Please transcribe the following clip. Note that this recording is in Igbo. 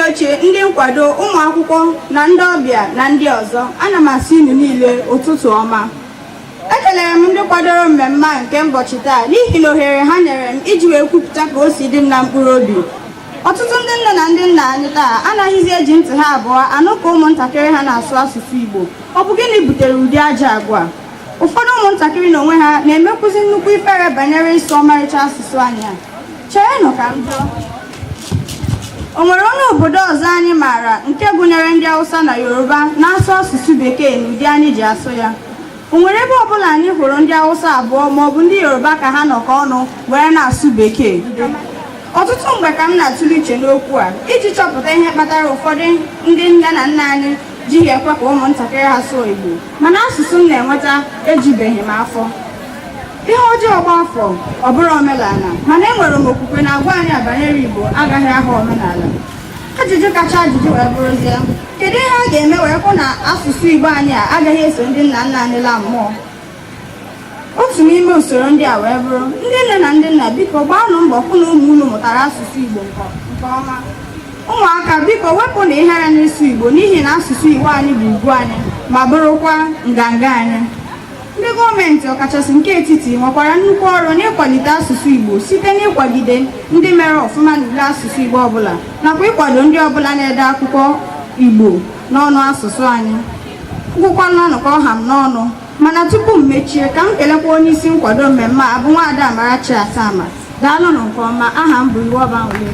oche ndị nkwado ụmụ akwụkwọ na ndị ọbịa na ndị ọzọ ana m asị unu niile ụtụtụ ọma ekelere m ndị kwadoro mmemme a nke ụbọchị taa n'ihi na ohere ha nyere m iji wee kwupụta ka o si dị m na mkpụrụ obi ọtụtụ ndị nne na ndị nna anyị taa anaghịzi eji ntị ha abụọ anụ ka ụmụntakịrị ha na-asụ asụsụ Igbo ọ bụ gịnị butere ụdị ajọ agwa ụfọdụ ụmụntakịrị na onwe ha na-emekwuzi nnukwu ifere banyere ịsụ ọmarịcha asụsụ anyị a cherenụ ka m jụọ o nwere onye obodo ọzọ anyị maara nke gụnyere ndị Awụsa na Yoruba na-asụ asụsụ bekee n'ụdị anyị ji asụ ya o nwere ebe ọbụla anyị hụrụ ndị Awụsa abụọ maọbụ ndị Yoruba ka ha nọkọ ọnụ were na-asụ bekee ọtụtụ mgbe ka m na-atụle uche n'okwu a iji chọpụta ihe kpatara ụfọdụ ndị nne na nna anyị jighị ekwe ka ụmụntakịrị ha sụọ Igbo mana ọsịsa m na-enweta ejubeghị m afọ ihe ọjọọ gbaa afọ ọ bụrụ omenala mana enwere m okwukwe na agwa anyị a banyere Igbo agaghị aghọ omenala ajụjụ kacha ajụjụ wee bụrụzie kedu ihe a ga-eme wee hụ na asụsụ Igbo anyị a agaghị eso ndị nna nna anyị laa mmụọ otu n'ime usoro ndị a wee bụrụ ndị nne na ndị nna biko gbaanụ mbọ hụ na ụmụ unu mụtara asụsụ Igbo nke ọma ụmụaka biko wepụnụ ihere n'ịsụ Igbo n'ihi na asụsụ Igbo anyị bụ ugwu anyị ma bụrụkwa nganga anyị ndị gọọmenti ọkachasị nke etiti nwekwara nnukwu ọrụ n'ịkwalite asụsụ Igbo site n'ịkwagide ndị mere ọfụma n'ule asụsụ Igbo ọbụla nakwa ịkwado ndị ọbụla na-ede akwụkwọ Igbo n'ọnụ asụsụ anyị ngwụkwanụ ọnụ ka ọ ha m n'ọnụ mana tupu m mechie ka m kelekwa onye isi nkwado mmemme a bụ nwaada Amarachi Atama daalụnụ nke ọma aha m bụ Iwuọba Anwụlị